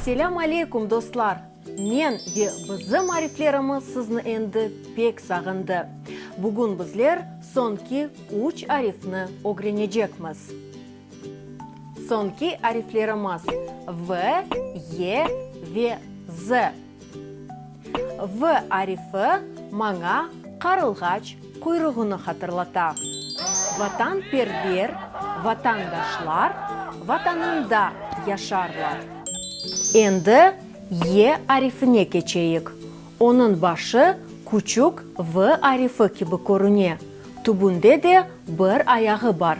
Selâm aleykum, dostlar! Men ve bizim ariflerimiz sizni endi pek sağındı. Bugün bizler soñki üç arifni ögrenecekmiz. Soñki ariflerimiz, V, Y ve Z. V arifi maña qarılğaç quyruğını hatırlata. Vatanperver vatandaşlar Vatanında yaşarlar. Endi Y arifine keçeyik. Onıñ başı küçük V arifi kibi körüne, tübünde de bir ayağı bar.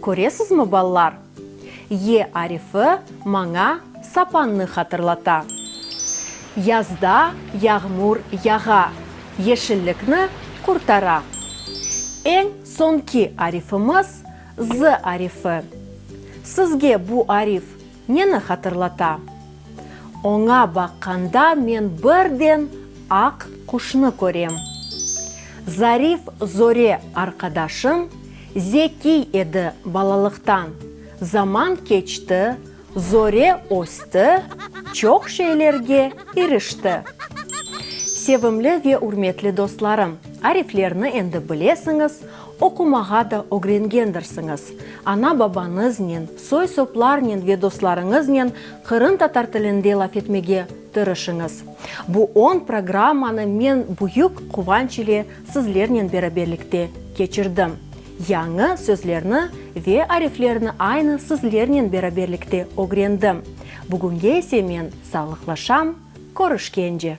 Köresizmi, balalar? Y arifi maña sapannı hatırlata. Yazda yağmur yağa, yeşillikni qurtara. Eñ soñki arifimiz, Z arifi. Sizge bu arif. Neni hatırlata? Oña baqqanda men birden aq quşnı körem. Zarif Zore arqadaşım zekiy edi balalıqtan, zaman keçti, Zore östi, çoq şeylerge irişti. Sevimli ve ürmetli dostlarım, ariflerni endi bilesiñiz, Oqumağa da ögrengendirsiñiz. Ana-babañıznen, soy-soplarnen ve dostlarıñıznen qırımtatar tilinde laf etmege tırışıñız. Bu on programmanı men büyük quvanç ile sizlernen beraberlikte keçirdim. Yañı sözlerni ve ariflerni aynı sizlernen beraberlikte ögrendim. Bugünge ise men sağlıqlaşam, körüşkence!